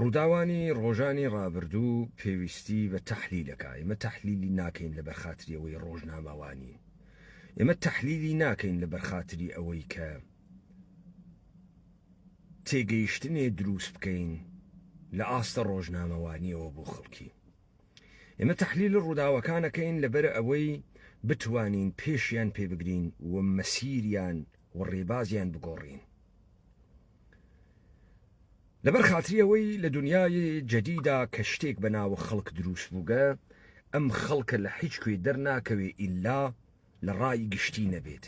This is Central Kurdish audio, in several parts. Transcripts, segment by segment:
ڕووداوانی ڕۆژانی ڕابردوو پێویستی بە تەحلیلەکا، ئێمە تەحلیلی ناکەین لەبەر خاتری ئەوەی ڕۆژنامەوانین، ئێمە تەحلیلی ناکەین لەبەر خاتری ئەوەی کە تێگەیشتنێ درووست بکەین لە ئاستە ڕۆژنامەوانیەوە بۆ خەڵکی. ئێمە تەحلیل ڕووداوەکانەکەین لەبەر ئەوەی بتوانین پێشیان پێبگرین و مەسیریان و ڕێبازیان بگۆڕین. لەبەر خاتری ئەوەی لە دنیای جەدیدا کە شتێک بە ناوە خەڵک دروست بووگە ئەم خەڵکە لە حیچ کوێ دەرناکەوێ ئیلا لە ڕای گشتی نەبێت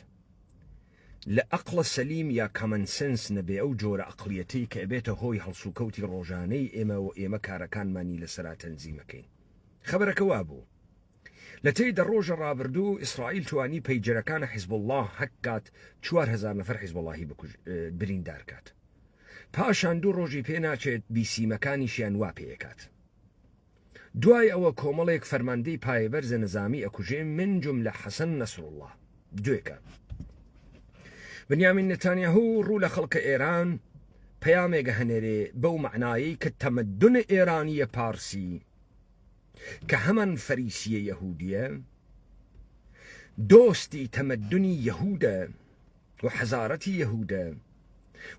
لە ئەقلە سەلیم یا کەمەن سنس نەبێ ئەو جۆرە ئەقلیەتەی کە ئەبێتە هۆی هەڵسوکەوتی ڕۆژانەی ئێمە و ئێمە کارەکانمانی لەسەرا تەنزیمەکەین خەبەرەکە وابوو لە تەی دە ڕۆژە ڕابردوو ئیسرائیل توانی پەیجەرەکانە حیزبوڵڵا هەک کات چوار هەزار نەفەر حیزبوڵاهی بکوژ بریندار کات پاشان دوو ڕۆژی پێ ناچێت بیسیمەکانیشیان وا پێکات دوای ئەوە کۆمەڵێک فەرماندەی پایەبەرزە نەزامی ئەکوژێ من جم لە حەسەن نەسرڵڵا دوێکە بنیامین نتانیاهو ڕوو لە خەڵکە ئێران پەیامێگە هەنێرێ بەو معنایی کە تەمەدون ئێرانیە پارسی کە هەمان فەریسییە یەهوودییە، دۆستی تەمەدونی یەهوودە و حەزارەتی یەهوودە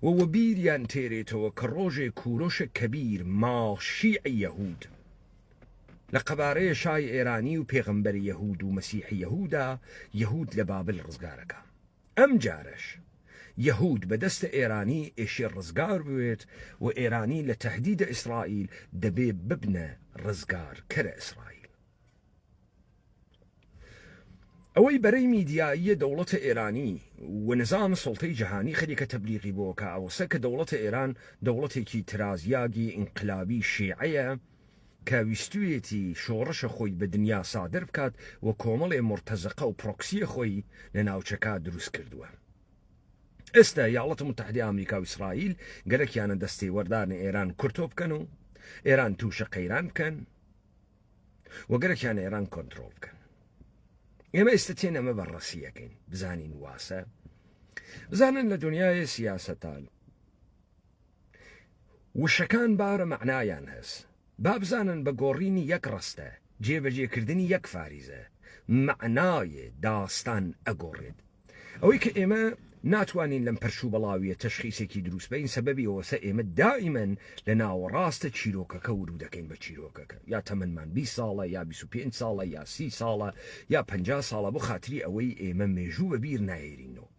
و وەبیریان تێرێتەوە کە ڕۆژێ کوورۆشە کەبیر ماڵشیعی یەهوود لە قەبارەیە شای ئێرانی و پێغەمبەری یەهوود و مەسیحی یەهوودا یەهوود لە بابل ڕزگارەکا. ئەم جارەش یەهود بە دەستە ئێرانی ئێشێ ڕزگار بوێت و ئێرانی لە تەهدیدە ئیسرائیل دەبێ ببنە ڕزگار کەرە ئیسرائیل. ئەوەی بەرەی میدیاییە دەوڵەتە ئێرانی و نزام سڵتەی جەهانی خەریکە تەبلیغی بۆکە ئەوەسە کە دەوڵەتە ئێران دەوڵەتێکی ترازیاگی ئینقلابی شیعەیە، کە ویستویەتی شۆڕشە خۆی بە دنیا سادر بکات و کۆمەڵێ مورتەزەقە و پرۆکسیە خۆی لە ناوچەکە دروست کردوە ئێستا یاڵەتە متحدە ئامریکا و ئیسرائیل گەلەکیانە دەستێ وەردارنە ئێران کورتۆ بکەن و ئێران تووشە قەیران بکەن و گەلەکیان ئێران کۆنتترۆل بکەن ئێمە ئێستا تێن ئەمە بەڕەسیەکەین بزانین واسە بزانن لە دنیای سیاستان وشەکان بارە مەعنایان هەس با بزانن بە گۆڕینی یەک ڕەستە جێبەجێ کردنی یەک فاریزە مەعنایێ داستان ئەگۆڕێت ئەوەی کە ئێمە ناتوانین لەم پەرش و بەڵاویە تەشخیسێکی دروست بین سەبەبی ئەوەسە ئێمە دائیمەن لە ناوەڕاستە چیرۆکەکە ورو دەکەین بە چیرۆکەکە یا تەمەمان 20 ساڵە یا 25 ساڵە یا سی ساڵە یا پ ساڵە بۆ خاتری ئەوەی ئێمە مێژوو بە بیر نایرینەوە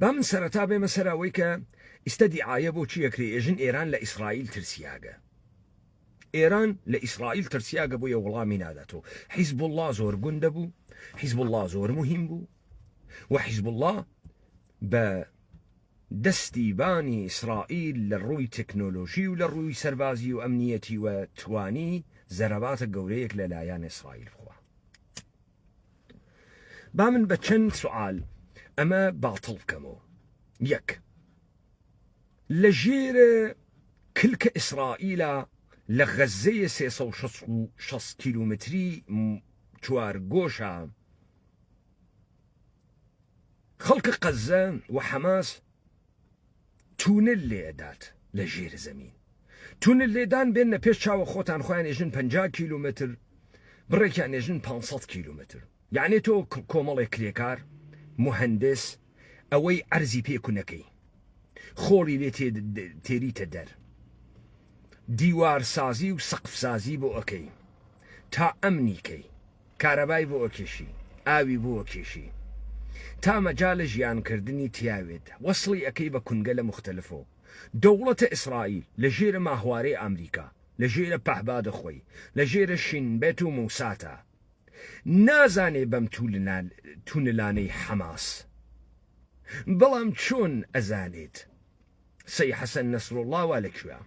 با من سەرەتا بێمە سەر ئەوەی کە ئیستا دیعاە بۆ چی ئەکرێ ئێژن ئێران لە ئیسرائیل ترسیاگە ئێران لە ئیسرائیل ترسیاگە بۆیە وڵامی ناداتەوە حیزب الله زۆر گوندە بوو حیزب الله زۆر مهم بوو و حیزب الله بە دەستی بانی ئیسرائیل لە ڕووی تەکنۆلۆژی و لە ڕووی سەربازی و ئەمنیەتی و توانی زەرەباتە گەورەیەک لە لایەن ئیسرائیل بخوا با من بە چەند سوال ئەمە باتڵ بکەمەوە یەک لە ژێر کلکە ئیسرائیلە لە غەزەیە 360 کیلومتری چوار گۆشە خەڵکە قەزە و حەماس تونل لێ ئەدات لە ژێر زەمین تونل لێدان بێنە پێش چاوە خۆتان خۆیان ئێژن 50 کیلومتر بڕێکیان ئێژن 500 کیلومتر یعنی تۆ کۆمەڵێک کرێکار مهندس ئەوەی عەرزی پێکونەکەی خۆڵی لێ تێریتە دەر دیوار سازی و سەقف سازی بۆ ئەکەی تا ئەمنی کەی کارەبای بۆ ئەکێشی ئاوی بۆ ئەکێشی تا مەجالە ژیان کردنی تیاوێت وەسڵی ئەکەی بە کونگە لە موختەلفۆ دەوڵەتە ئیسرائیل لە ژێرە ماهوارەی ئامریکا لە ژێرە پەهبادە خۆی لە ژێرە شین بێت و موساتە نازانێ بەم تونلانەی حەماس بەڵام چۆن ئەزانێت سەی حەسەن نەسروڵڵا وا لە کوێ؟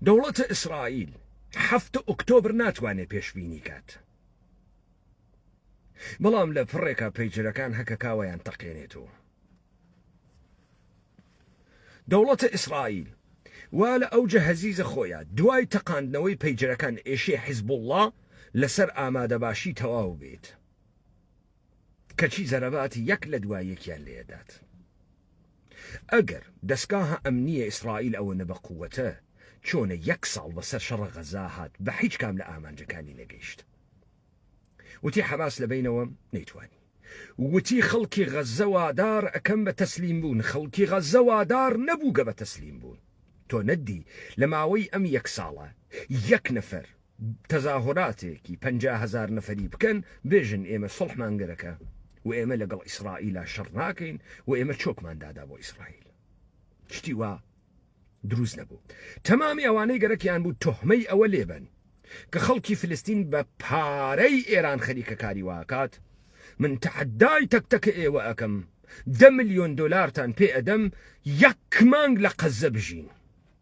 دەوڵەتە ئیسرائیل هەفتە ئۆکتۆبر ناتوانێت پێشببینی کات بەڵام لە پڕێکە پەیجرەکان هەکە کاوەیان تەقێنێتەوە دەوڵەتە ئیسرائیل وا لە ئەو جەهزیزە خۆیان دوای تەقاندنەوەی پەیجرەکان ئێشێ حیزبوڵڵا لەسەر ئامادەباشی تەواو بێت کەچی زەرەباتی یەک لە دوای یەکیان لێدات. ئەگەر دەسگاهە ئەمنییە ئیسرائیل ئەوەنە بە قووەتە، چۆنە یەک ساڵ بەسەر شەڕە غەزا هات بە هیچ کام لە ئامانجەکانی نەگەیشت؟ وتی حەماس لە بەینەوەم نەیتوانی. وتی خەڵکی غەزە وادار ئەکەم بە تەسلیم بوون، خەڵکی غەزە وادار نەبوو گە بە تەسلیم بوون. تۆ نەتدی لە ماوەی ئەم یەک ساڵە یەک نەفەر تەزاهۆراتێکی پەنجا هەزار نەفەری بکەن بێژن ئێمە سڵحمان گەرەکە و ئێمە لەگەڵ ئیسرائیلا شەڕ ناکەین و ئێمە چۆکمان دادا بۆ ئیسرائیل شتی وا دروست نەبوو تەمامی ئەوانەی گەرەکیان بوو تۆحمەی ئەوە لێبن کە خەڵکی فلستین بە پارەی ئێران خەریکە کاری واکات من تەحدای تەک تەکە ئێوە ئەەکەم دە ملیۆن دلارتان پێ ئەدەم یەک مانگ لە قەزە بژین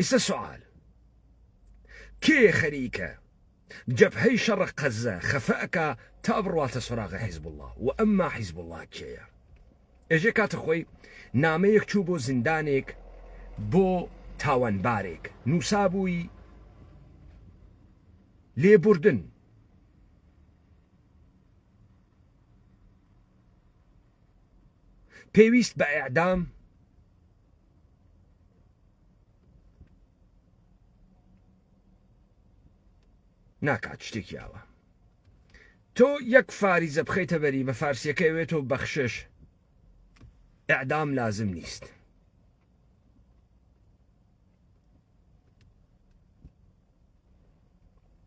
ئیسە سوال کێ خەریکە جەبهەی شەڕ قەزە خەفە ئەکا تا بڕواتە سۆراغە حیزب الله و ئەمما حیزب الله کێیە ئێژێ کاتە خۆی نامەیەک چوو بۆ زیندانێک بۆ تاوانبارێک نووسابووی لێبوردن پێویست بە ئیعدام ناکات شتێکی ئاوە تۆ یەک فاریزە بخەیتە بەری بە فارسیەکە وێت و بەخشش ئەعدام لازم نیست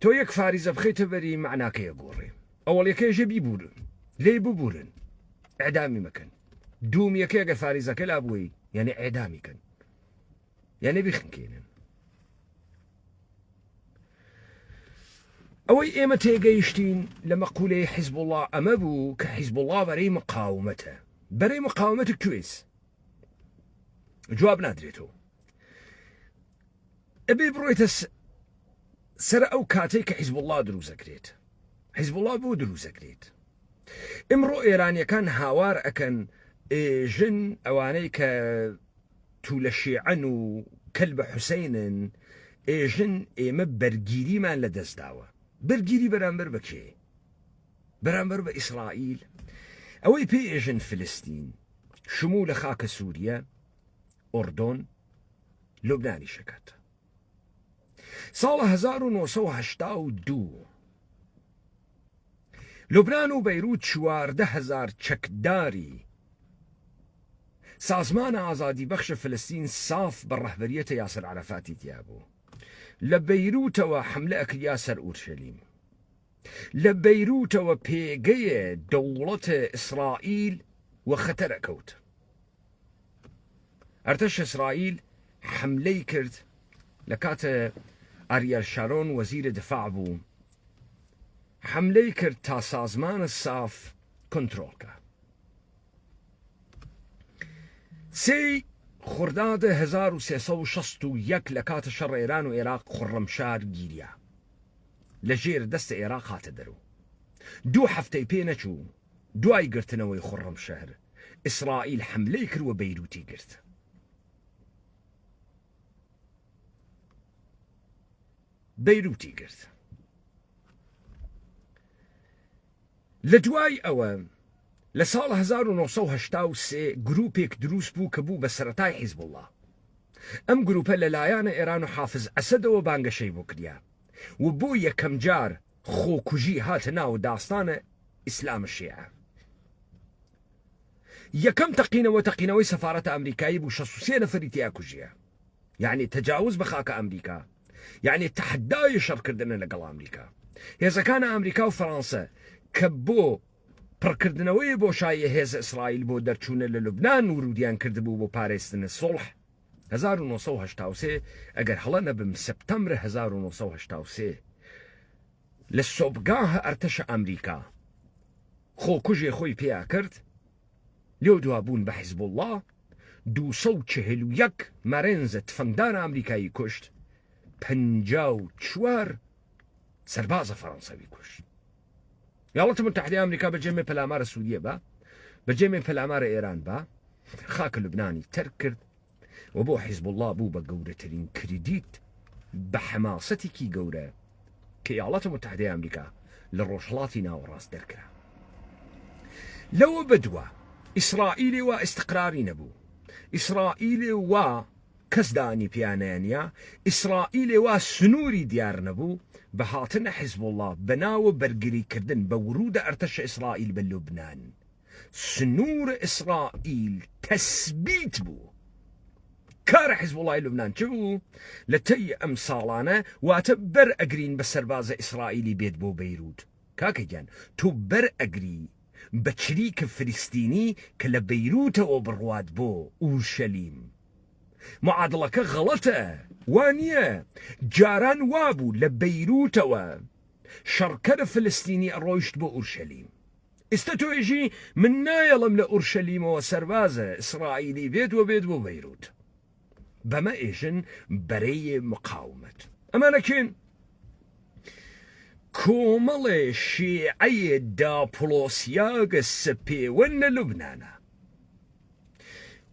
تۆ یەک فاریزە بخەیتە بەری معناکەیە گۆڕێ ئەوەڵەکەیشە بیبوورن لێی ببوورن ئەدامی مەکەن دوومیەکە گە فاریزەکە لا بووی یعنی ئەدامی کەن یعنی بخنکێنن ئەوەی ئێمە تێگەیشتین لە مەقولەی حیزب وڵا ئەمە بوو کە حیزب وڵا بەرەی مقاومەتە بەرەی مقاومەت کوێز جواب نادرێتەوە ئەبێ بڕۆیتە سەر ئەو کاتێک کە حیزب الله دروزەکرێت حیزب الله بۆ دروزەکرێت ئمڕۆ ئێرانیەکان هاوار ئەکەن ژن ئەوانەی کە تو لە شێعەن و کەل بە حوسینن ئێژن ئێمە بەرگیریمان لە دەستداوە بەرگیری بەرامبەر بەکێ بەرامبەر بە ئیسرائیل ئەوەی پێ ئێژن فلستین شمو لە خاکە سووریە ئۆردۆن لوبنانی شەکات ساڵە 1970 لوبناان و بەیروت چواردە هزار چەکداری سازمان ئازادی بەخشە فلستین ساف بە ڕەهبەریەتە یاسەر عرفاتی تیا بوو لە بەیروتەوە حملە ئەکریا سەر ئورشەلیم لە بەیروتەوە پێگەیە دەوڵەتە ئیسرائیل و خەتەرە کەوت ئەرتەش ئیسرائیل حەملەی کرد لە کاتێ ئاریەل شارۆن وەزیرە دفاع بوو، حەملەی کرد تا سازمانە ساف کۆنترۆڵ کا. سێی خوردادە هەزار و سێ سەد و شەست و یەک لە کاتە شەڕ ئێران و ئێراق خوڕەمشار گیریا لە ژێر دەستە ئێراق هاتە دەرو دوو هەفتەی پێ نەچوو دوای گرتنەوەی خوڕەمشەهر، ئیسرائیل حەملەی کرد و بەیروتی گرت. بەیروتی گرت. لە دوای ئەوە لە ساڵ 1970 گروپێک دروست بوو کە بوو بە سەتای حیزبوڵە ئەم گروپە لە لایەنە ئێران و حافز ئەسەدەوە بانگەشەی بۆ کریا و بۆ یەکەم جار خۆکوژی هاتە ناو داستانە ئیسلامە شێعە. یەکەم تەقینەوە تەقینەوەی سەفارەتە ئەمریکایی بوو 63 نەفەری تیا کوژیە یعنی تەجاوز بە خاکە ئەمریکا یعنی تەحدای شەڕکردنە لەگەڵ ئەمریکا هێزەکانە ئەمریکا و فەرانسە کە بۆ پڕکردنەوەی بۆشاییە هێز ئیسرائیل بۆ دەرچوونە لە لوبنان ورودیان کردبوو بۆ پارێزتنە سوڵح هەزار و نۆ سەد و هەشتا و سێ، ئەگەر هەڵە نەبم سپتەمبر هەزار و نۆ سەد و هەشتا و سێ، لە سۆبگاه ئەرتەشە ئەمریکا خۆکوژێ خۆی پیا کرد، لەودوا بوون بە حزبوڵا، دوو سەد و چهل و یەک مەرێنزە تفەنگدار ئەمریکایی کوشت، پەنجا و چوار سەربازە فەرەنسەوی کوش یاڵەتە متحدی ئەمریکا بە جێمێ پەلامارە سووریە بە بە جێمێ پەلامارە ئێران بە خاکە لوبنانی تەرک کرد و بۆ حیزب الله بوو بە گەورەترین کردیت بە حەماسەتێکی گەورە کە یاڵەتە متحدی ئەمریکا لە ڕۆژهڵاتی ناوەڕاست دەرکرا لەوە بەدووە ئیسرائیلی وا ئستقراری نەبوو ئیسرائیلی وا کەس دانی پیانەنیا ئیسرائیلێ وا سنوری دیار نەبو بە هاتنە حزبوڵا بە ناوە بەرگری کردن بە ورودە ئەرتەشە ئیسرائیل بە لوبنان سنور ئیسرائیل تەسبیت بو کار حزبوڵای لوبنان چ بو لە تەی ئەم ساڵانە واتە بەر ئەگرین بە سەربازە ئیسرائیلی بێت بۆ بەیروت کاکە گیان تۆ بەر ئەگری بە چریک فلستینی کە لە بەیروتەوە بڕوات بۆ ئورشەلیم معادڵەکە غەڵەتە وا نیە جاران وابوو لە بەیروتەوە شەڕکەر فلستینی ئەڕۆیشت بۆ ئورشەلیم ئیستە تۆ ئێژی من نایەڵم لە ئورشەلیمەوە سەربازە ئیسرائیلی بێت وە بێت بۆ بەیروت بەمە ئێژن بەرەی مقاومەت ئەمانە کێن کۆمەڵێ شیعەیە داپڵۆسیاگە سپێوەن لە لوبنانا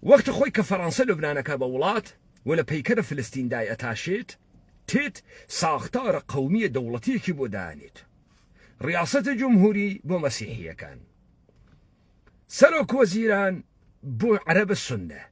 وەختە خۆی کە فەڕەنسە لوبنانەکە بە وڵات و لە پەیکەرە فلستیندای ئەتاشێت تێت ساختارە قومیە دەوڵەتیەکی بۆ دانێت ڕاستە جمهوری بۆ مەسیحیەکان سەرۆک وەزیران بۆ عەرەبە سنە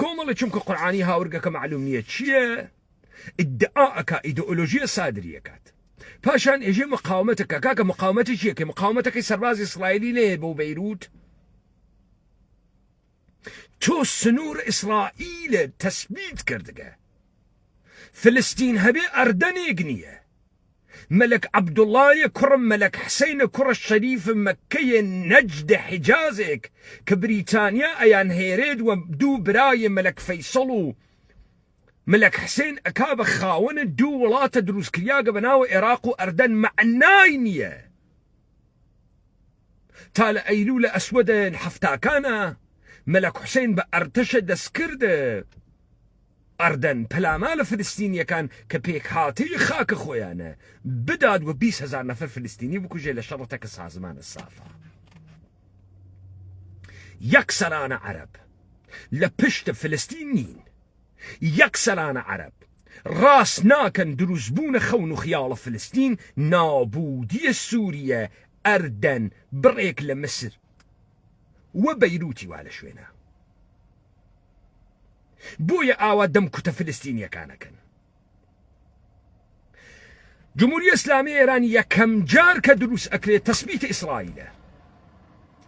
کۆمەڵە چونکە قورآانی هاورگەکە معلوم نییە چییە ئیدعا ئەک ئیدۆلۆژیە سادریەکات پاشان ئێژێ مقاومەتەکە کاکە مقاومەتی چیەکە مقاومەتەکەی سەربازی ئیسرائیلی نەیە بۆ بەیروت تۆ سنوور ئیسرائیلە تەسبیت کردگە فلستین هەبێ ئەردەنێک نییە مەلەک عەبدوڵایە کوڕم مەلەک حسەینە کوڕە شەریف مەککەیە نەجدە حیجازێک کە بریتانیا ئەیان هێرێت وە دوو برایێ مەلەک فەیسەڵ و مەلەک حسەین ئەکا بە خاوەنە دوو وڵاتە دروستکریاگە بە ناوە ئێراق و ئەردەن مەعنای نیە تا لە ئەیلولە ئەسوەدە حەفتاکانا مەلەک حوسەین بە ئەرتەشە دەستکرد ئەردەن پەلاما لە فلستینیەکان کە پێکهاتەی خاکە خۆیانە بدات و 20 هزار نەفر فلستینی بکوژێ لە شەڕە تەکە سازمانە سافە یەکسەرانە عەرب لە پشت فلستین نین یەکسەرانە عەرەب ڕاست ناکەن دروست بوونە خەون و خیاڵە فلستین نابوودیە سوریە ئەردەن بڕێک لە مسر و بەیروتی وا لە شوێنە بۆیە ئاوا دەم کوتە فلستینیەکانەکەن جمهوری اسلامی ایران یەکەم جار کە دروست ئەکرێت تەسبیت ئیسرائیلە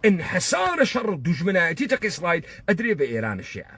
انحسار شەڕ دژمنایەتی تەق ئیسرائیل ئەدرێ بە ئێران شێعە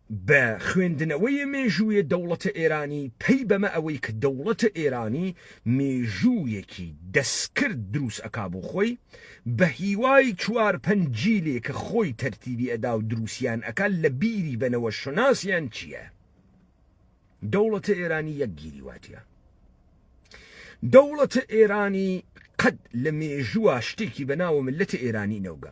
بە خوێندنەوەێ مێژووێ دەوڵەتە ئێرانی پەی بەمە ئەوەی ک دەوڵەتە ئێرانی مێژووێکی دەسکرد دروس ئەکا بۆ خۆی بە هیوای چوار پەنج جیلێ ک خۆی تەرتیبی ئەدا و دروسیان ئەکا لە بیری بەنەوە شوناسیان چیە دەوڵەتە ئێرانی یەک گیری واتیە دەوڵەتە ئێرانی قەد لە مێژووا شتێکی بە ناوە ملەتە ئێرانی نەوگە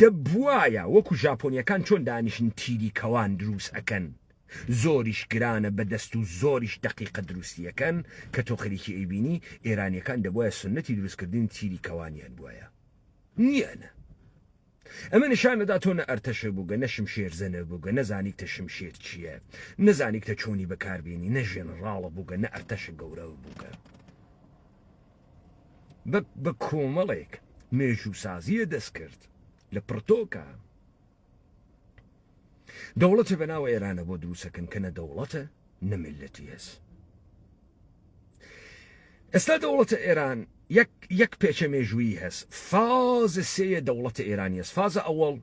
دەبوایە وەکو ژاپۆنیەکان چۆن دانیشن تیری کەوان دروست ئەکەن زۆریش گرانە بەدەست و زۆریش دەقیقە دروستی ئەکەن کە تۆ خەریکی ئەیبینی ئێرانیەکان دەبوایە سونەتی دروست کردنی تیری کەوانیان بوایە نیانە ئەمە نشان ئەدا تۆ نە ئەرتەشە بووگە نە شمشێرزە نەبووگە نەزانیکتە شمشێر چییە نەزانیکتە چۆنی بەکاربێنی نە ژێنەڕاڵە بووگە نە ئەرتەشە گەورە بووگە. بە کۆمەڵێک مێژووسازییە دەستکرد لە پڕتۆکە دەوڵەتێ بە ناو ئێرانە بۆ دروستەکەن کە نە دەوڵەتە نە ملەتی هەس ئێستا دەوڵەتە ئێران یەک پێچە مێژوویی هەست فازە سێە دەوڵەتە ئێرانی هەست فازە ئەوەڵ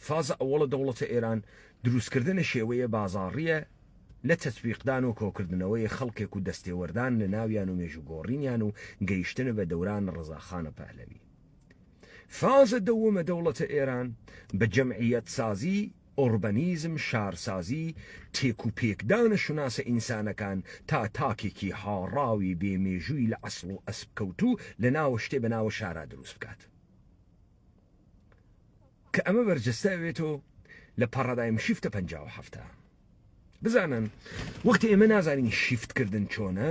فازە ئەوەڵە دەوڵەتە ئێران درووستکردنە شێوەیە بازاڕییە لە تەتبیقدان و کۆکردنەوەی خەڵکێک و دەستێوەردان لە ناویان و مێژوو گۆڕینیان و گەیشتنە بە دەوران ڕەزاخانە پەهلەوی. فازە دەوەمە دەوڵەتە ئێران بە جەمعییەتسازی، ئۆڕبەنیزم، شارسازی، تێک و پێکدانە شوناسە ئینسانەکان تا تاکێکی هاڕاوی بێ مێژووی لە عەسڵ و ئەسپ کەوتوو لە ناوەشتێ بە ناوە شارا درووست بکات. کە ئەمە بەرجەستە ئەوێتۆ لە پارادایم شیفتە پ هەفتە بزانن وەخت ئێمە نازانین شیفتکردن چۆنە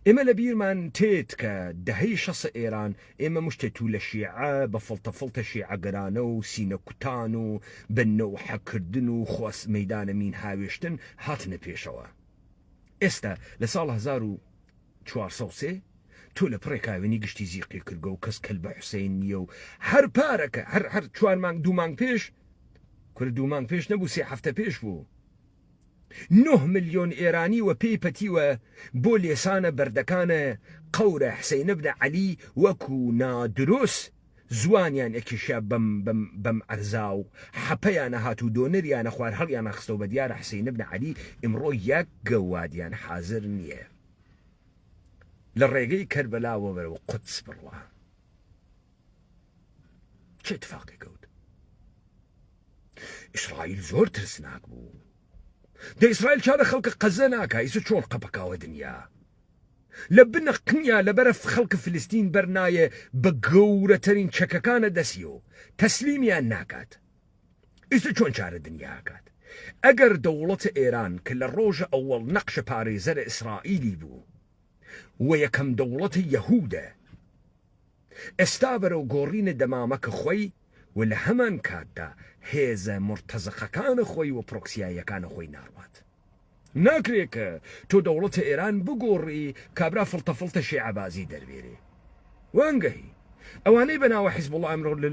ئێمە لە بیرمان تێت کە دەهەی شەس ئێران ئێمە مشتێ تو لە شیعە بە فڵتە فڵتە شیعەگەرانە و سینە کوتان و بنە و حەکردن و خواست مەدانە مین هاوێشتن هاتنە پێشەوە ئێستا لە ساڵ 1970 چوار سەد و سێ تۆ لە پڕێ کاوێنی گشتی زیقی کرگە و کەس کەلبە حوسەین نییە و هەر پارەکە هەر هەر چوار مانگ دوو مانگ پێش کورە دوو مانگ پێش نەبوو سێ هەفتە پێش بوو نه ملیۆن ئێرانی وە پێی پەتیوە بۆ لێسانە بەردەکانە قەورە حسینە بنە عەلی وەکو نادروست زوانیان ئەکیشا بەم بەم بەم عەرزا و حەپەیانە هات و دۆنریانە خوار هەڵیانا خستەوە بە دیارە حسین ابن علی ئمڕۆ یەک گەوادیان حازر نیە لە ڕێگەی کەربەلاوە بەرەو قودس بڕوا چ اتفاقی کەوت ئیسرائیل زۆر ترسناک بوو دە ئیسرائیل چارە خەڵکە قەزە ناکە ئیسە چۆن قەپەکاوە دنیا لە بنە قنیا لە بەرە خەڵک فلستین بەر نایێ بە گەورە تەرین چەکەکانە دەسی و تەسلیمیان ناکات ئیسە چۆن چارە دنیا ئەکات ئەگەر دەوڵەتە ئێران کە لە ڕۆژە ئەوەڵ نەقشە پارێزەرە ئیسرائیلی بوو و یەکەم دەوڵەتە یەهودە ئێستا بەرەو گۆڕینە دەمامەکە خۆی و لە هەمان کاتدا هێزە مورتەزەقەکانە خۆی و پرۆکسیاییەکانە خۆی ناڕوات. ناکرێ کە تۆ دەوڵەتە ئێران بگۆڕی کابرا فڵتە فڵتە شێعە بازی دەربێرێ. وانگهی. ئەوانەی بە ناوە حیزبوڵا ئەمڕۆ لە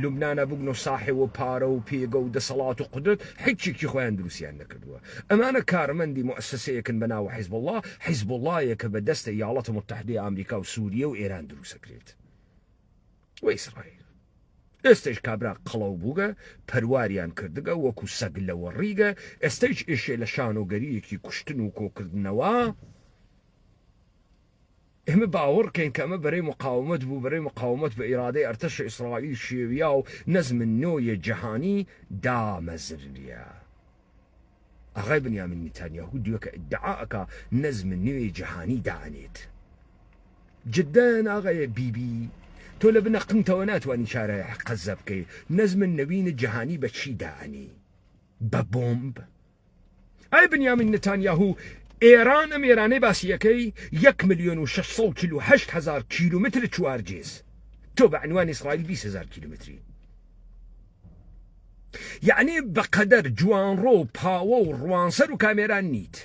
لوبنانا بوگنۆ ساحێ و پارە و پێگە و دەسەڵات و قودرەت حیچێکی خۆیان دروستیان نەکردوە. ئەمانە کارمەندی موئەسەسەیەکن بە ناوە حیزبوڵا، حیزبوڵایەک کە بە دەستە یاڵەتە موتەحدەی ئامریکا و سووریە و ئێران دروست ئەکرێت و ئیسرائیل. ئێستەیش کابرا قەڵەو بووگە، پەرواریان کردگە وەکوو سەگ لەوەڕیگە، ئێستەیش ئێشێ لە شانۆگەرییەکی کوشتن و کۆکردنەوە، ئێمە باوەڕکەین کە ئەمە بەرەی مقاومەت بوو، بەرەی مقاومەت بە ئیرادەی ئەرتەشی ئیسرائیل شێویا و نەزم نۆێ جەهانی دامەزریا. ئاغای بنیامین نیتانیاهو دوێکە ئیدعا ئەکا نەزم نوێی جەهانی دانێت. جدەن ئاغای بیبی تۆ لە بنە قنتەوە ناتوانی چارای قەزە بکەی، نەزم نەوین جەهانی بە چی دائەنی؟ بە بۆمب؟ ئەی بنیامین نتانیاهو ئێران ئەم ئێرانەی باسی یەکەی یەک ملیۆن و شەش سەد و چل و هەشت هەزار کیلومتر چوارجێز تۆ بە عنوان ئیسرائیل بیست هەزار کیلومتری یعنی بەقەدەر جوانڕۆ و پاوە و ڕوانسەر و کامێران نیت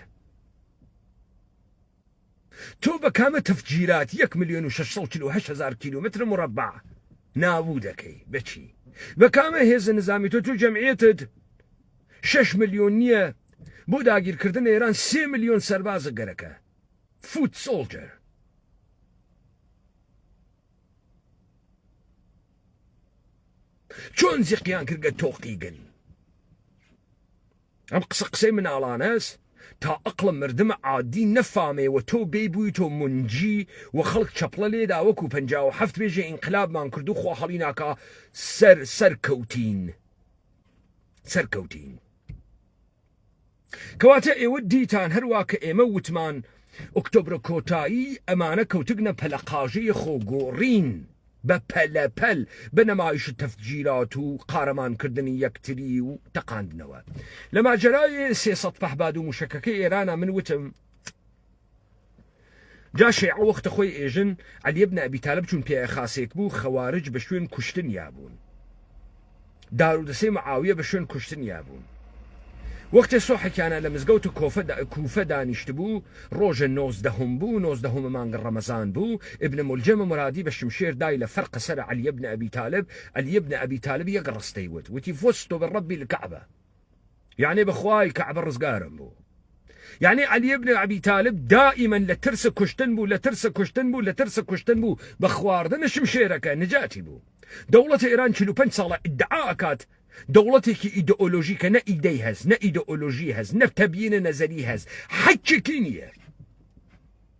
تۆ بە کامە تەفجیرات یەک ملیۆن و شەش سەد و چل و هەشت هەزار کیلۆمەترە موڕەبع نابوو دەکەی بە چی؟ بە کامە هێزە نزامی تۆ تۆ جەمعیەتت شەش ملیۆن نییە بۆ داگیرکردنە ئێران سێ ملیۆن سەربازە گەرەکە فوت سۆڵجەر چۆن زیقیان کردگە تۆقیگن ئەم قسە قسەی مناڵانەس تا ئەقڵە مردمە عادی نەفامێ وە تۆ بێی بویتۆ مونجی وە خەڵک چەپڵە لێدا وەکو پەنجا و حەفت بێژێ ئینقلاب مان کردو خوا هەڵی ناکا سەر سەر کەوتین سەر کەوتین کەواتە ئێوە دیتان هەروا کە ئێمە وتمان ئۆکتۆبرە کۆتایی ئەمانە کەوتگنە پەلەقاژەی خۆگۆڕین بە پەلە پەل بە نەمایش تەفجیرات و قارەمان کردنی یەکتری و تەقاندنەوە لە ماجەرای سێ سەد پەهباد و موشەکەکەی ئێرانە من وتم جا شێعە وەختە خۆی ئێژن عەلیە بنە ئەبی تالب چون پیاە خاسێک بوو خەوارج بە شوێن کوشتنیا بوون دارودەسەی معاویە بە شوێن کوشتنیا بوون. وەختێ سۆحە کیانە لە مزگەوت کۆفە کوفە دانیشتبوو، ڕۆژێ نۆزدەهوم بوو، نۆزدەهومە مانگە ڕەمەزان بوو، ئیبن مولجەمە مورادی بە شمشێر دای لە فەرقە سەرە عەلی بن ئەبی تالب، عەلی بن ئەبی تالب یەک ڕستەی وت، وتی فزت برب الکعبە. یەعنی بەخوای کەعبە ڕزگارم بوو یەعنی عەلی بن عەبی تالب دائیمەن لە ترس کوشتن بوو لە ترس کوشتن بوو لە ترس کوشتن بوو بە خواردنە شمشێرەکە نجاتی بوو دەوڵەتی ئێران 45 ساڵە ئیدعا ئەکات دەوڵەتێکی ئیدئۆلۆژی کە نە ئیدەی هەز نە ئیدئۆلۆژی هەز نە تەبیینە نەزەری هەز حەکێکی نییە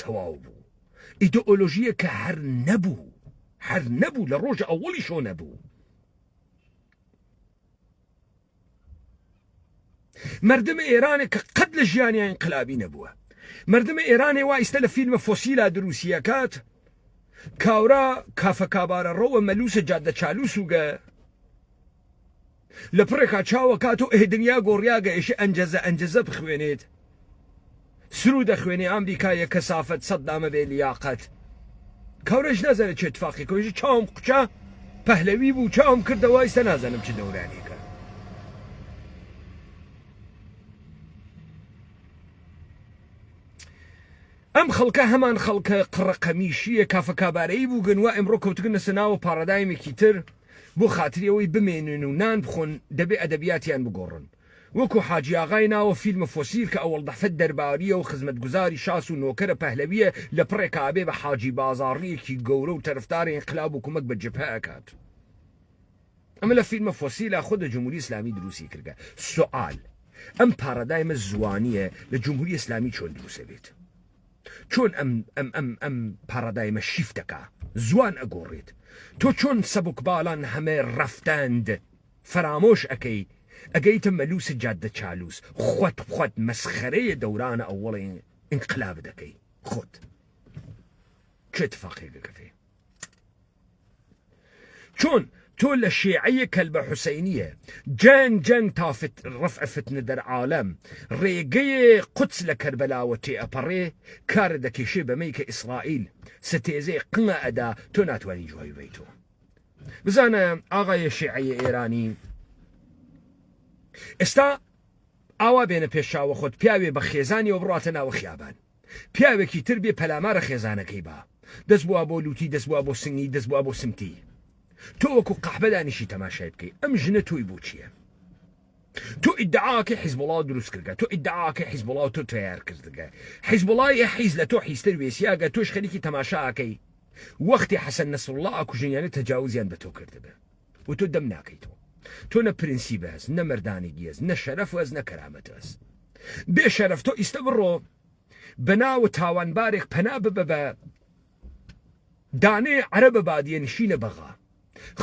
تەواو بوو ئیدئۆلۆژییە کە هەر نەبوو هەر نەبوو لە ڕۆژە ئەوەڵی شۆ نەبوو مردم ئێرانە کە قەت لە ژیانیان قلابی نەبووە مردم ئێرانێ وا ئیستا لە فیلمە فۆسیلا دروسیەکات کاورا کافە کابارە ڕەوە مەلوسە جادە چالوسوگە لە پڕێکا چاو ئەکات و ئه دنیا گۆڕیا گەیشە ئەنجەزە ئەنجەزە بخوێنێت سرود ئەخوێنێ ئامریکایە کەسافەت سەدامە بێ لیاقەت کەورەش نازانێت چێ تفاقی کۆیژە چاوم قوچە پەهلەوی بوو چاوم کردەوە ئیستا نازانم چ دەورانێک ئەم خەڵکە هەمان خەڵکە قڕەقەمیشیە کافە کابارەی بووگن و ئەمڕۆ کەوتگن لەسە ناوە پاڕادایمێکی تر بۆ خاتری ئەوەی بمێنن و نان بخۆن دەبێ ئەدەبیاتیان بگۆڕن. وەکوو حاجی ئاغای ناوە فیلمە فۆسیل کە ئەوڵدەفت دەربارییە و خزمەتگوزاری شاس و نۆکەرە پەهلەوییە لە پڕێکا ئەبێ بە حاجی بازاڕییەکی گەورە و تەرفدارە ئینقلاب و کومەک بە جبهە ئەکات. ئەمە لە فیلمە فۆسیلا خۆ دە جمهوری ئیسلامی دروستی کردە. سوئال، ئەم پارادایمە زووانییە لە جمهوری ئیسلامی چۆن دروس ئەبێت؟ چۆن ئەم ئەم ئەم ئەم پارادایمە شیفت دەکا زوان ئەگۆڕێت تۆ چۆن سەبک باڵان هەمێ ڕەفتاند فەرامۆش ئەکەی ئەگەیتە مەلوس جادە چالوس خوت خوت مەسخەرەیە دەورانە ئەوەڵێ ئینقلاب دەکەی خوت چێ تفاقێ گەکەفێ چۆن تۆ لە شێعەیە کەلبە حوسەینیە جەنگ جەنگ تا ڕفع فتنە دەر عالەم ڕێگەیە قودس لە کەربەلاوە تێ ئەپەڕێ کارە دەکێشێ بەمەی کە ئیسرائیل ستێزێ قمە ئەدا تۆ ناتوانی جوای بەی تۆ بزانە ئاغایە شێعەیە ئێرانی ئێستا ئاوا بێنە پێشاوە خۆت پیاوێ بە خێزانی و بڕاتە ناوە خیابان پیاوێکی تر بێ پەلامارە خێزانەکەی با دەست بووە بۆ لوتی دەست بووە بۆ سنگی دەست بووە بۆ سمتی تۆ وەکو قەحبە دانیشی تەماشای بکەی ئەم ژنە تۆی بۆ چییە تۆ ئیدعاکە حیزبڵا دروست کردگە تۆ ئیدعاکە حیزبڵا تۆ تیار کردگە حیزبڵای حیز لە تۆ حیزتر وێسیاگە تۆش خەریکی تەماشاکەی وەختی حەسەن نەسرڵا ئاکوژنیانە تەجاوزیان بە تۆ کردبێ و تۆ دەم ناکەیتەوە تۆ نە پرنسیبە هەس نە مەردانی گیێز نە شەرەف وەز نە کەرامەت هەس بێ شەرەف تۆ ئیستە بڕۆ بەناوە تاوانبارێک پەنا ببە بە دانێ عەرە بە بادیە نشینە بەغا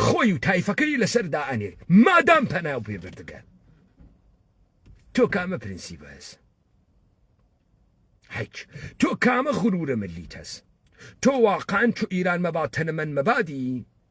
خۆی و تایفەکەی لەسەر دائەنێ مادام پەنا و پێبردگە تۆ کامە پرنسیبە هەس هیچ تۆ کامە غرورە ملیت هەس تۆ واقعان چ ئیران مەبات تەنەمەن مەبادی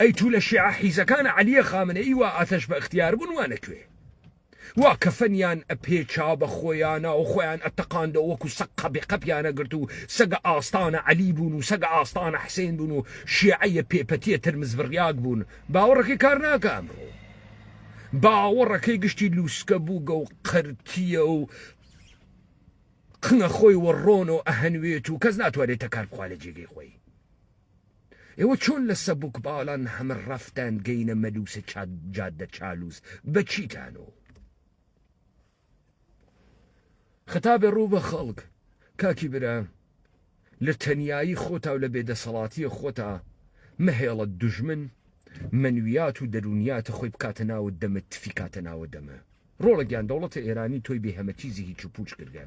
ئەی تو لە شیعە حیزەکان عەلیە خامنەیی وا ئاتەش بە اختیار بون وانە کوێ وا کەفەنیان ئە پێچا بە خۆیانا و خۆیان ئە تەقاندەوە وەکو سەگ قەبی قەپیانە گرت و سەگە ئاستانە عەلی بون و سەگە ئاستانە حسین بون و شیعەیە پێپەتیە ترمز بڕیاگ بون باوەڕەکەی کار ناکە ئەمڕۆ باوەڕەکەی گشتی لوسکە بوگە و قەرتیە و قنە خۆی وە ڕۆنۆ ئەهەنوێت و کەس ناتوانێت تەکار بخوا لە جێگەی خۆی ئێوە چۆن لە سەبوک باڵان هەمە ڕەفتان گەینە مەلوسە چاد جادە چالوس بە چیتانۆ خەتا بە ڕوو بە خەڵک کاکی برا لە تەنایی خۆتا و لە بێدەسەڵاتیە خۆتا مەهێڵە دژمن منویات و دەرونیاتە خۆی بکاتە ناوە دەمە تفیکاتە ناوە دەمە ڕۆڵە گیان دەوڵەتە ئێرانی تۆی بێ هەمە چیزی هیچ و پوچ کردە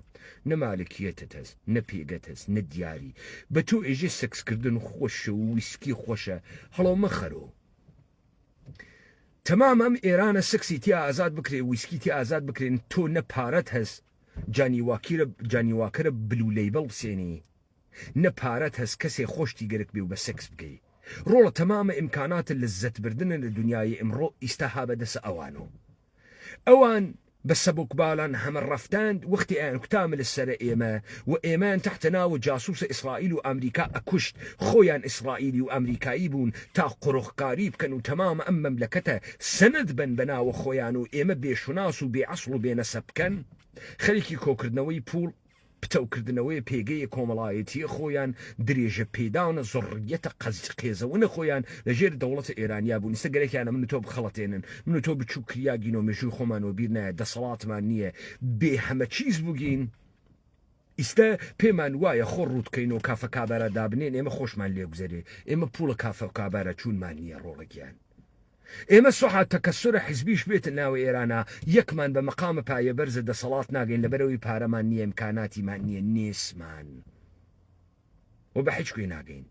نە مالکیەتت هەس نە پێگەت هەس نە دیاری بە تۆ ئێژێ سکس کردن خۆشە و ویسکی خۆشە هەڵۆ مەخەرۆ تەمام ئەم ئێرانە سکسی تیا ئازاد بکرێ ویسکی تیا ئازاد بکرێن تۆ نە پارەت هەس جانی واکیرە جانی واکەرە بلو لەیبڵ بسێنی نە پارەت هەس کەسێ خۆشتی گەرک بێ و بە سکس بکەی ڕۆڵە تەمامە ئیمکاناتە لە زەت بردنە لە دنیای ئمڕۆ ئیستا ها بە دەسە ئەوانۆ ئەوان بە سەبک بالان هەمە رەفتاند وەختی ئەیان کوتا مل سەرە ئێمە و ئێمەیان تەحتە ناوە جاسوسە ئیسرائیل و ئامریکا ئەکوشت خۆیان ئیسرائیلی و ئامریکایی بوون تا قرخکاری بکەن و تەمامە ئەم مەملەکەتە سەند بەن بە ناوە خۆیان و ئێمە بێ شوناس و بێ ئەسڵ و بێ نەسەب بکەن خەریکی کۆکردنەوەی پوڵ پتەوکردنەوەی پێگەی کۆمەڵایەتییە خۆیان، درێژە پێدانە زڕڕییەتە قەزقێزەونە خۆیان لە ژێر دەوڵەتە ئێرانییە بوون، ئیستە گەرەکیانە من و تۆ بخەڵەتێنن، من و تۆ بچووک کریاگین و مێژووی خۆمان وەبیر نایە، دەسەڵاتمان نییە، بێ هەمە چیز بوگین، ئیستە پێمان وایە خۆ ڕووتکەین و کافە کابارا دابنێن، ئێمە خۆشمان لێگوزەرێ، ئێمە پووڵە کافە و کابارا چوونمان نییە ڕۆڵە گیان. ئێمە سوحا تەکەسورە حزبیش بێتە ناو ئێرانا یەکمان بە مەقامە پایە بەرزە دەسەڵات ناگەین لەبەرئەوەی پارەمان نیە ئمکاناتیمان نیە نێسمان و بە حیچ کوێ ناگەین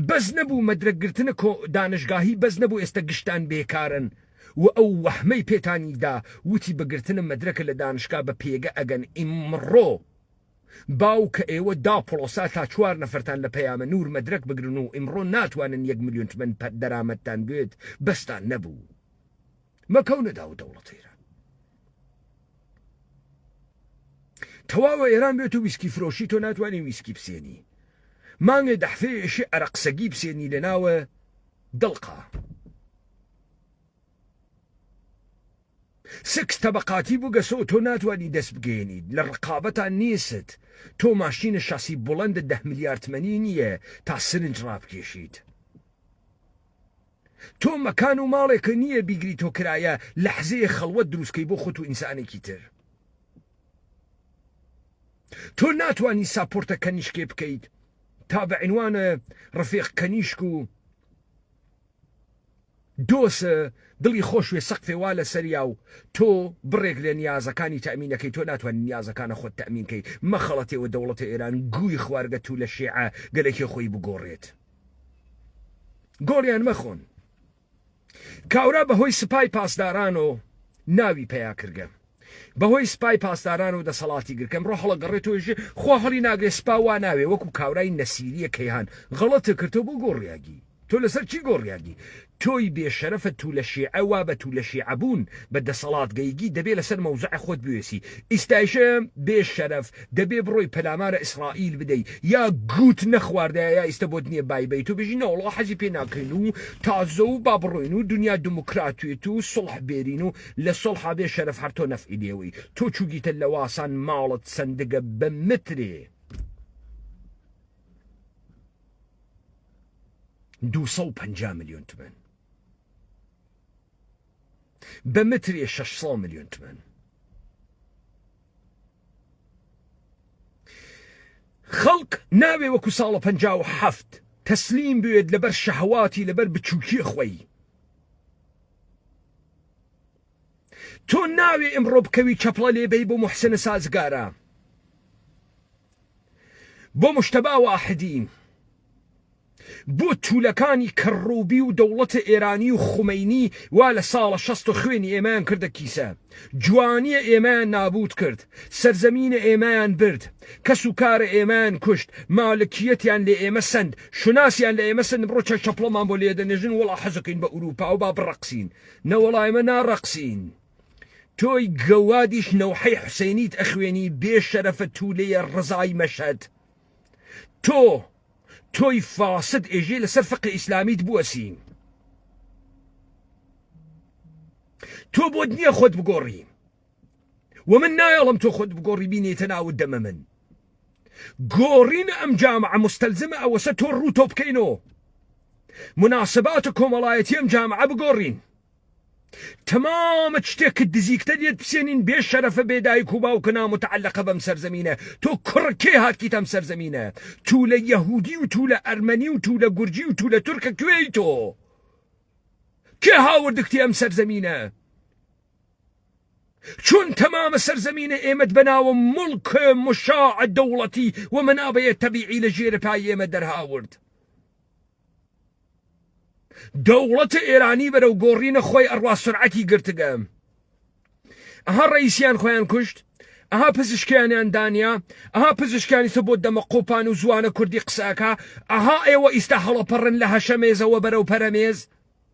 بەس نەبوو مەدرەک گرتنە کۆ دانشگاهی بەس نەبوو ئێستە گشتان بێکارن و ئەو وەحمەی پێتانی دا وتی بەگرتنە مەدرەکە لە دانشگا بە پێگە ئەگەن ئیمڕۆ باو کە ئێوە دا پڵۆسا تا چوار نەفەرتان لە پەیامە نور مەدرەک بگرن و ئیمڕۆ ناتوانن یەک ملیون تمەن پە دەرامەتتان بوێت بەستان نەبوو مەکەونە داو دەوڵەت ئێران تەواوە ئێران بێت و ویسکی فرۆشی تۆ ناتوانین ویسکی بسێنی مانگێ دەحفێ ئێشی ئەرەقسەگی بسێنی لە ناوە دڵقا سکس تەبەقاتی بو گەسۆ تۆ ناتوانی دەست بگەیەنیت لە ڕقابەتا نیست تۆ ماشینە شاسی بوڵەندە دەه ملیار تمەنی نیە تا سرنج ڕابکێشیت تۆ مەکان و ماڵێکە نیە بیگری تۆ کرایە لەحزەیە خەڵوەت دروستکەی بۆ خۆت و ئینسانێکی تر تۆ ناتوانی ساپۆرتە کەنیشکێ بکەیت تا بە عنوانە ڕفێق کەنیشک و دۆس دڵی خۆش وێ سەقفێ وا لە سەریا و تۆ بڕێک لە نیازەکانی تەئمینەکەی تۆ ناتوانی نیازەکانە خۆت تەئمین کەی مەخەڵەتێ وە دەوڵەتە ئێران گووی خوارگە توو لە شێعە گەلەکێ خۆی بگۆڕێت گۆڵیان مەخۆن کاورا بە هۆی سپای پاسدارانۆ ناوی پەیا کردگە. بەهۆی سپای پاسداران و دەسەڵاتی گرکەم ڕۆ هەڵەگەڕێ تۆیژێ خوا هەڵی ناگرێ سپا وا ناوێ وەکو کاورای نەسیریە کەیهان غەڵەتە کرد تۆ بۆ گۆڕیاگی تۆ لەسەر چی گۆڕیاگی تۆی بێ شەرەفە تو لە شیعە وا بە تو لە شیعە بوون بە دەسەڵات گەیگی دەبێ لەسەر مەوزعە خۆت بوێسی ئیستایشە بێ شەرەف دەبێ بڕۆی پەلامارە ئیسڕائیل بدەی یا گووت نەخواردایە یا ئیستە بۆت نیە بای بەی تۆ بژی نەوەڵا حەزی پێ ناکەین و تازە و با بڕۆین و دنیا دموکراتێت و سوڵح بێرین و لە سوڵحا بێ شەرەف هەر تۆ نەفعی لێوەی تۆ چوگیتە لەواسان ماڵت سندگە بە مترێ دوو سەد و پەنجا ملیۆن تمەن بە مترێ شەش سەد ملیۆن تمەن خەڵک ناوێ وەکو ساڵە پ هەفت تەسلیم بوێت لەبەر شەهواتی لەبەر بچووکی خۆی تۆ ناوێ ئمڕۆ بکەوی چەپڵە لێ بەی بۆ محسنە سازگارە بۆ مشتەبا واحدی بۆ تولەکانی کەڕوبی و دەوڵەتە ئێرانی و خومەینی وا لە ساڵە شەست و خوێنی ئێمەیان کردە کیسە جوانیە ئێمەیان نابوت کرد سەرزەمینە ئێمەیان برد، کەس و کارە ئێمەیان کوشت، مالکیەتیان لە ئێمە سەند، شوناسیان لە ئێمە سەند، ئمڕۆ چەک چەپڵەمان بۆ لێدەنێژن، وەڵا حەزەکەین بە ئورووپا و با بڕەقسین، نەوەڵا ئێمە ناڕەقسین، تۆی گەوادیش نەوحەی حوسەینیت ئەخوێنی، بێ شەرەفە توولەیە ڕەزای مەشهەد، تۆ تۆی فاسد ئێژێ لە سەر فقێ ئیسلامیت بوەسین، تۆ بۆت نییە خۆت بگۆڕی. ومن نایەڵم تۆ خۆت بگۆڕی بینێتە ناوت دەمە من گۆڕینە ئەم جامعە مستەلزمە ئەوەسە تۆ ڕوو تۆ بکەینەوە مناسبات و کۆمەڵایەتی ئەم جامعە بگۆڕین تمامە شتێکت دزیکتە لێت بسێنین بێ شەرەفە بێدایک و باوکە نامتەعلقە بەم سەرزەمینە تۆ کوڕکێ هاتکیت ئەم سەرزەمینە تو لە یەهودی و تو لە ئەرمەنی و تو لە گورجی و تو لە تورکە کوێی تۆ کێ هاوردکتی ئەم سەرزەمینە چون تەمامە سەرزەمینە ئێمەت بەناوە موڵک مشاع دەوڵەتی و مەنابەیە تەبیعی لە ژێرە پای ئێمە دەرهاورد. دەوڵەتە ئێرانی بەرەو گۆڕینە خۆی ئەڕوا سرعەتی گرتگە. ئەها ڕئیسیان خۆیان کوشت ئەها پزیشکیانیان دانیا ئەها پزیشکانی سە بۆ دەمە قۆپان و زوانە کوردی قسەکە ئەها ئێوە ئیستا هەڵەپەڕن لە هەشەمێزەوە بەرەو پەرەمێز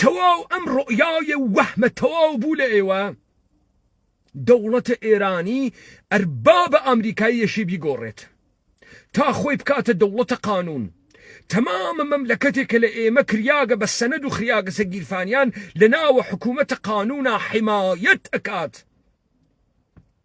تەواو ئەم ڕۆیاێ وەهمە تەواو بوو لە ئێوە دەوڵەتە ئێرانی ئەربابە ئامریکاییەشی بیگۆڕێت تا خۆی بکاتە دەوڵەتە قانون تەمامە مەملەکەتێک کە لە ئێمە کریاگە بە سەند و خریاگەسە گیرفانیان لە ناوە حکوومەتە قانونا حیمایەت ئەکات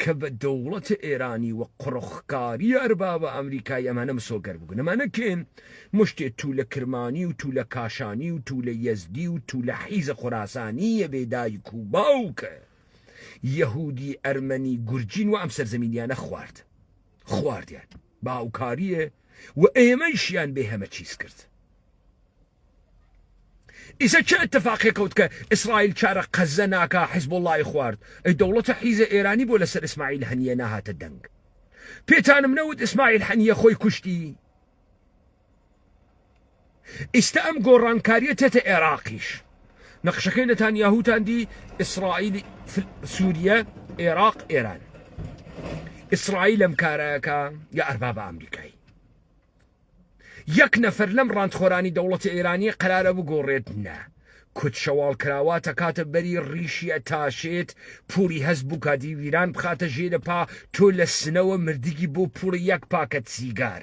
کە بە دەوڵەتە ئێرانی و قڕخکاریە ئەربابە ئەمریکای ئەمانە مسۆگەر بگن ئەمانە کێن مشتێ تولە کرمانی و تولە کاشانی و تولە یەزدی و تولە حیزە خوراسانی یە بێ دایک و باوکە یەهودی ئەرمەنی گورجین و ئەم سەرزەمینیانە خوارد خواردیان باوکاریە و ئێمەیشیان بێ هەمە چیز کرد ئیسە چ اتفاقێ کەوت کە ئیسرائیل چارە قەزە ناکا حزبوڵڵای خوارد ئەی دەوڵەتە حیزە ئێرانی بۆ لەسەر ئیسماعیل هەنیە ناهاتە دەنگ پێتانم نەوت ئیسماعیل حەنیە خۆی کوشتی ئیستا ئەم گۆڕانکاریە تێتە عێراقیش نەخشەکەی نەتان یاهوتان دی ئیسرائیل سووریە عێراق ئێران ئیسرائیل ئەم کارەکە یا ئەربابە ئەمریکای یەک نەفەر لەم ڕانتخۆرانی دەوڵەتە ئێرانیە قەرارە بگۆڕێت نا کت شەواڵ کراوە تەکاتە بەری ڕیشی ئەتاشێت پوڵی هەست بووکاتی ویران بخاتە ژێرە پا تۆ لە سنەوە مردگی بۆ پوڵی یەک پاکەت سیگار.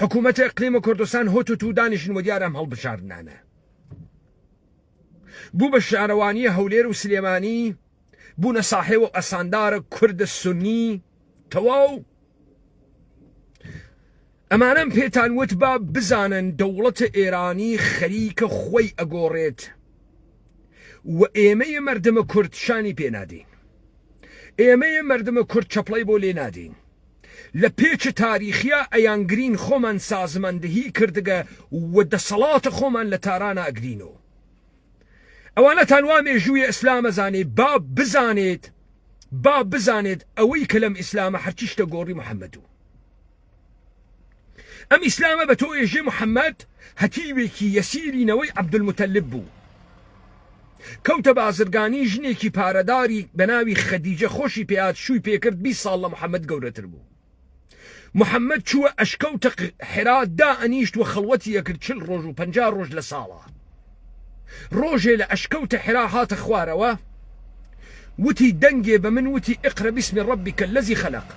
حکوومەت ئەقلیمە کوردستان هۆت و تو دانیشن و دیارەم هەڵبژاردنانە بوو بە شارەوانیە هەولێر و سلێمانی بوونە ساحێ و ئەساندارە کوردە سنی تەواو ئەمانم پێتان وت با بزانن دەوڵەتە ئێرانی خەریکە خۆی ئەگۆڕێت و ئێمەیە مردمە کورد شانی پێنادەین ئێمەیە مردمە کورد چەپڵی بۆ لێ نادەین لە پێچ تاریخیا ئەیان گرین خۆمان سازمەندهی کردگە و دەسەڵات خۆمان لە تارانا ئەگرینۆ. ئەوانەتان وا مێژووی ئیسلام ئەزانێ با بزانێت با بزانێت ئەوەی کە لەم ئیسلامە هەرچی شتە گۆڕی محەمەدو. ئەم ئیسلامە بە تۆ ئێژێ محەممەد هەتیوێکی یەسیری نەوەی عەبدولموتەلب بوو. کەوتە بازرگانی ژنێکی پارەداری بە ناوی خەدیجە خۆشی پێات شووی پێکرد بی ساڵ لە محەممەد گەورەتر بوو. محەممەد چووە ئەشکەوتە حرا دا ئەنیشت و خەڵوەتی ئەکرد چل ڕۆژ و پەنجا ڕۆژ لە ساڵا. ڕۆژێ لە ئەشکەو تەحرا هاتە خوارەوە وتی دەنگێ بە من وتی اقرا بسم ربک الذی خلق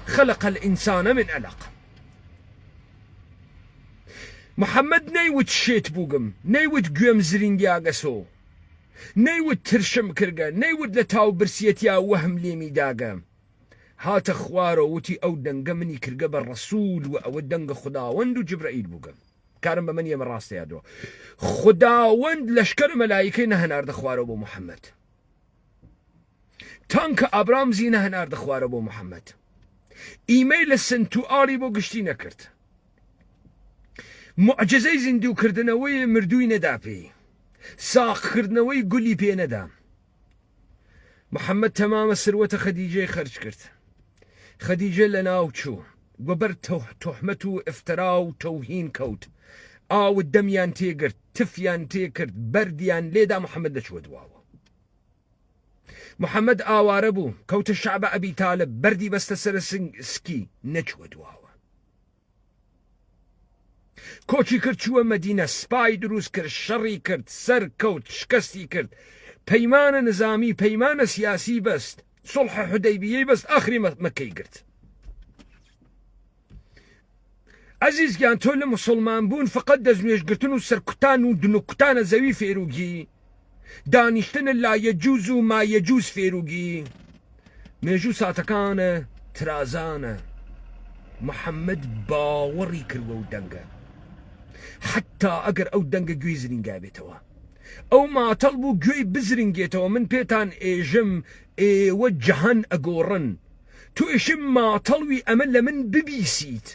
خلق الانسان من علق محمد نەیوت شێت بووگم نەیوت گوێم زرینگیاگەسۆ نەیوت ترشم کرگە نەیوت لە تاو برسیەتیا وەهم لێمی داگە هاتە خوارەوە وتی ئەو دەنگە منی کرگە بە ڕەسول و ئەوە دەنگە خوداوەند و جبرئیل بووگم کارم بە منی ئێمە ڕاستەیە دۆ خداوەند لەشکەر مەلایکەی نەهناردە خوارەوە بۆ محەممەد تانکە ئابرامزی نەهناردە خوارە بۆ محەممەد ئیمەی لە سنت و ئاڵی بۆ گشتی نەکرد معجزەی زیندووکردنەوەی مردووی نەدا پێی ساقکردنەوەی گولی پێ نەدام محەممەد تەمامە سروەتە خەدیجەی خەرج کرد خەدیجە لە ناو چوو گوبەر تۆحمەت و ئفترا و تەوهین کەوت ئاوت دەمیان تێگرت تفیان تێکرد بەردیان لێدا محەممەد دەچوە دواوە محەممەد ئاوارە بوو کەوتە شعبە ئەبی تالب بەردی بەستە سەر سکی نەچوە دواوە کۆچی کرد چووە مەدینە سپای دروست کرد شەڕی کرد سەر کەوت شکەستی کرد پەیمانە نزامی پەیمانە سیاسی بەست سڵح حدەیبیەی بەست ئاخری مەکەی گرت ئەزیزگیان تۆ لە مسلمان بوون فقط دەستنوێژگرتن و سەرکوتان و دنوکتانە زەوی فێروگی دانیشتن لا یەجوز و ما یەجوز فێروگی مێژوو ساتەکانە ترازانە محەممەد باوەڕی کردوە و دەنگە حتا ئەگەر ئەو دەنگە گوێی زرینگا بێتەوە ئەو ماتەڵ بوو گوێی بزرنگێتەوە من پێتان ئێژم ئێوە جەهان ئەگۆڕن توێشی ماتەڵوی ئەمە لە من ببیسیت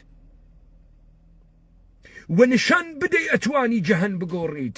وە نیشان بدەی ئەتوانی جەهان بگۆڕیت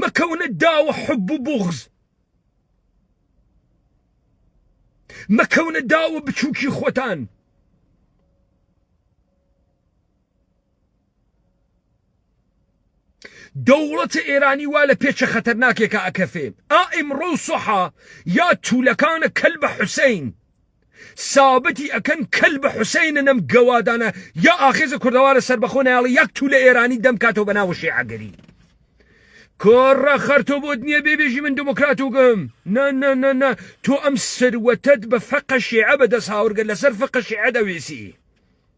مەکەونە داوە حب و بوغز مەکەونە داوە بچووکی خۆتان دەوڵەتە ئێرانی وا لە پێچە خەتەرناکێکە ئەکەفێ ئا ئیمڕۆ سەحا یا توولەکانە کەل بە حوسین سابتی ئەکەن کەل بە حوسەینە نەم گەوادانە یا ئاخێزە کوردەوارە سەربەخۆ نایاڵی یەک تو لە ئێرانی دەم کاتەوە بەناوە شێعەگەری کۆڕە خەرتۆ بۆت نییە بێبێژی من دموکرات و گەم نە نە نە نە تۆ ئەم سروەتەت بە فەقە شێعە بەدەست هاورگە لەسەر فقە شێعە دەوێسی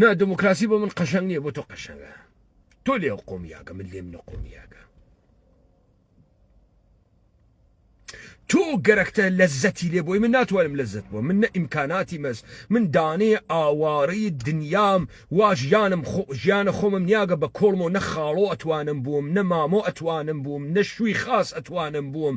نا دموکراسی بۆ من قەشەنگ نییە بۆ تۆ قەشەنگە تۆ لێ قۆمیاگە من لێم نە قۆمیاگە تۆ گەرەکتە لەزەتی لێ بۆی من ناتوانم لەزت بۆ من نە ئیمکاناتی مەز من دانێ ئاوارەی دنیام واژیانم ژیانە خۆمم نیاگە بە کۆڵمەوە نە خاڵۆ ئەتوانم بووم نە مامۆ ئەتوانم بووم نە شووی خاس ئەتوانم بووم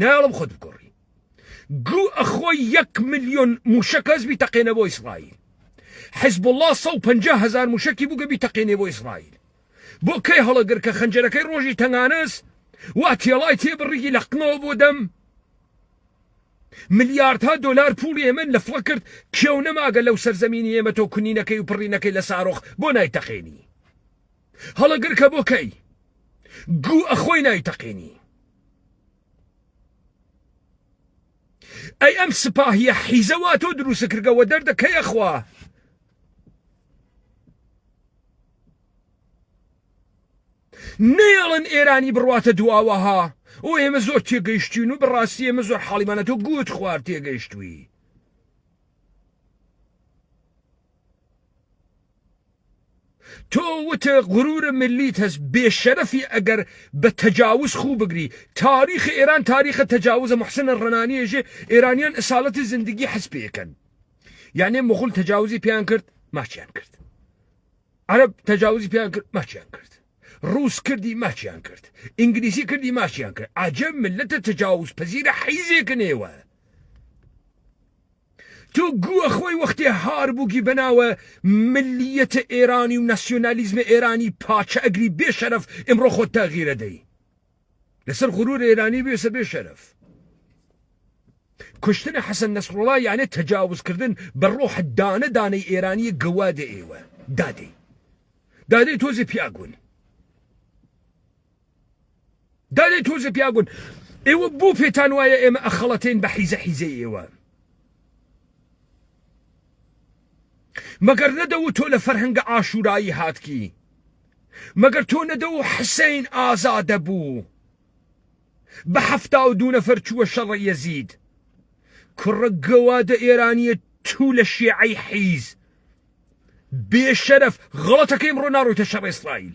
نایەڵم خۆت بگۆڕی گو ئەخۆی یەک ملیۆن موشە کەس بی تەقێنە بۆ ئیسرائیل حزب الله سە و پەنجا هزار موشەکی بووگە بی تەقێنێ بۆ ئیسرائیل بۆ کەی هەڵەگر کە خەنجەرەکەی ڕۆژی تەنگانەس وا تێڵای تێ بڕیگی لە قنەوە بۆ دەم ملیاردها دلار پوڵی ئێمە لە فڵ کرد کێو نەماگە لەو سەرزەمینی ئێمە تۆ کونینەکەی و پڕینەکەی لە سارۆخ بۆ نایتەقێنی هەڵەگر کە بۆ کەی گو ئەخۆی نایتەقێنی ئەی ئەم سپاهیە حیزە وا تۆ دروست کردەوە دەردەکەیە خوا نەیەڵن ئێرانی بڕاتە دواوەها ئەو ئێمە زۆر تێگەیشتین و بەڕاستی ئێمە زۆر حاڵیمانە تۆ گوت خوارد تێگەیشتوی تۆ وتێ غرور ملیت هەست بێ شەرەفی ئەگەر بە تەجاوز خوو بگری تاریخ ئێران تاریخە تەجاوزە محسنە ڕەنانیێژێ ئێرانیان ئساالتی زندگی حەز پێکەن یانێ مغول تەجاوزی پێیان کرد ماچیان کرد عرب تەجاوزی پێیان کرد ماچیان کرد ڕوس کردی ماچیان کرد ئینگلیسی کردی ماچیان کرد عجب ملەتە تەجاوز پەزیرە حیزێک نێوە تۆ گووە خۆی وەختێ هار بووگی بەناوە ملیەتە ئێرانی و ناسیۆنالیزمە ئێرانی پاچە ئەگری بێ شەرف ئمڕۆ خۆت تاغیرە دەی لەسەر غرور ئێرانی بێسە بێ شەرف کوشتنە حەسەن نەسڕڵا یانە تەجاوزکردن بە ڕۆح دانە دانەی ئێرانی گەوادە ئێوە دادەی دادەی تۆزی پیاگون دادەی تۆزێ پیاگون ئێوە بۆ پێتان وایە ئێمە ئەخەڵەتین بە حیزە حیزەی ئێوە مەگەر نەدە و تۆ لە فەرهەنگە ئاشورایی هاتکی مەگەر تۆ نەدە و حسین ئازادە بوو بە هەفتا و دوو نەفەر چووە شەڕە یەزید کوڕە گەوادە ئێرانیە تو لە شێعی حیز بێشەرف غڵەتەکەیم ڕۆ ناڕۆیتە شەڕ ئیسرائیل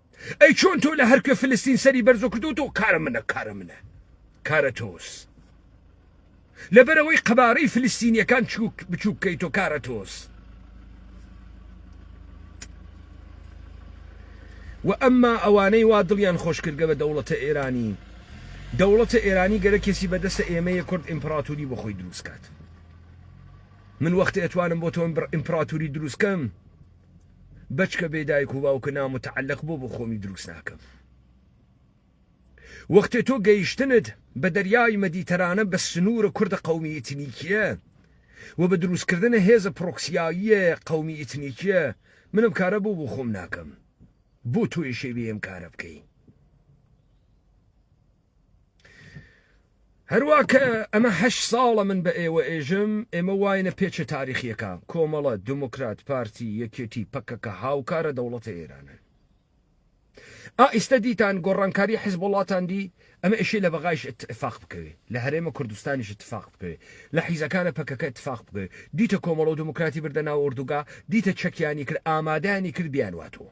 ئەی چۆن تۆ لە هەرکوێ فلستین سەری بەرزۆ کردو تۆ کارە منە کارە منە کارە تۆس لەبەرەوەی قەبارەی فلستینیەکان چووک بچووک کەی تۆ کارە تۆس و ئەمما ئەوانەی وا دڵیان خۆشکردگە بە دەوڵەتە ئێرانی دەوڵەتە ئێرانی گەرە کێسی بەدەستە ئێمەیە کورد ئیمپراتوری بۆ خۆی دروستکات من وەختە ئەتوانم بۆ تۆم بڕ ئیمپراتوری دروستکەم بەچکە بێ دایک و باوکە نامتەعەلەق بۆ بۆ خۆمی دروست ناکەم وەختێ تۆ گەیشتنت بە دەریای مەدیتەرانە بە سنوورە کوردە قومی ئیتنیکیە و بە دروستکردنە هێزە پرۆکسیاییە قومی ئیتنیکیە منم کارە بۆ بۆ خۆم ناکەم بۆ تۆیشێ بێم کارە بکەی هەروا کە ئەمە هەشت ساڵە من بە ئێوە ئێژم ئێمە واینە پێچە تاریخیەکان کۆمەڵە دموکرات پارتی یەکێتی پەکەکە هاوکارە دەوڵەتە ئێرانن ئائیستا دیتان گۆڕانکاری حزب وڵاتان دی ئەمە ئێشی لە بەغایش اتفاق بکەوێ لە هەرێمە کوردستانیش اتفاق بکەوێ لە حیزەکانە پەکەکە اتفاق بکەوێ دیتە کۆمەڵە و دموکراتی بردە ناو ئۆردوگا دیتە چەکیانی کرد ئامادانی کرد بیانواتەوە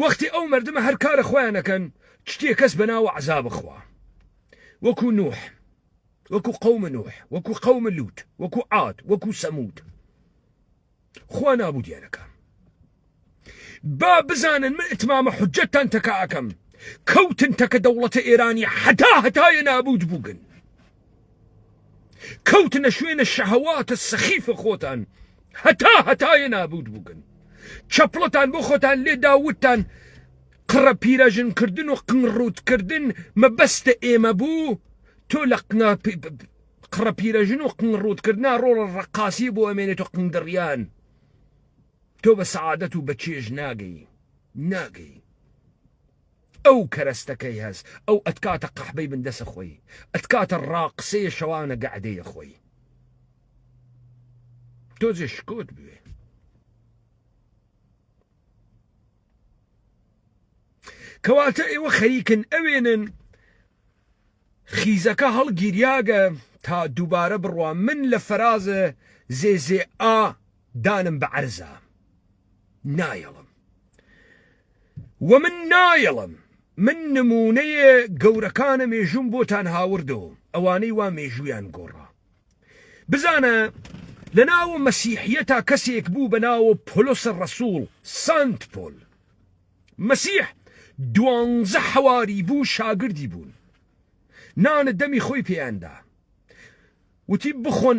وەختی ئەو مردمە هەر کارە خۆیان ئەکەن چتیە کەس بەناوە عەزاب خوا وەکو نوح وەکو قوم نوح وەکو قوم لوت وەکو عاد وەکو سەمود خوا نابودیانەکە با بزانن من اتمامە حجەتتان تەکە ئەکەم کەوتن تەکە دەوڵەتە ئێرانی حتا هەتایە نابوت بووگن کەوتنە شوێنە شەهەواتە سەخیفە خۆتان هەتا هەتایە نابوت بووگن چەپڵەتان بۆ خۆتان لێدا وتتان قڕە پیرەژنکردن و قنڕوتکردن مەبەستە ئێمە بوو تۆ لە قنا قڕە پیرەژن و قنڕوتکردنا ڕۆڵە ڕقاسی بۆ ئەمێنێت و قندڕیان تۆ بە سەعادەت و بە چێژ ناگەی ناگەی ئەو کەرەستە کەی هەس ئەو ئەتکاتە قەحبەی بن دەسە خۆی ئەتکاتە ڕاقسەیە شەوانە گەعدەیە خۆی تۆزێ شکۆت بوێ کەواتە ئێوە خەریکن ئەوێنن خیزەکە هەڵگیریاگە تا دووبارە بڕوا من لە فەرازە زێزێ ئا دانم بە عەرزە نایەڵم و من نایەڵم من نمونەیە گەورەکانە مێژوم بۆتان هاوردەوە ئەوانەی وا مێژویان گۆڕا بزانە لە ناوە مەسیحە تا کەسێک بوو بە ناوە پۆلۆسە ڕسوول سنت پۆل مەسیح دوانزە حەواری بوو شاگردی بوون نانە دەمی خۆی پێیاندا وتی بخۆن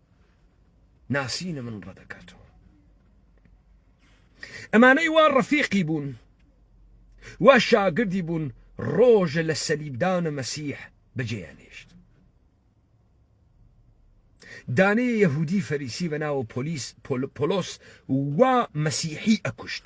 ناسینە من ڕەدەکاتەوە ئەمانەی وا ڕەفیقی بوون وا شاگردی بوون ڕۆژە لە سەلیبدانە مەسیح بەجێیانێشت دانەیە یەهودی فەریسی بە ناوە پۆلیس پۆلۆس وا مەسیحی ئەکوشت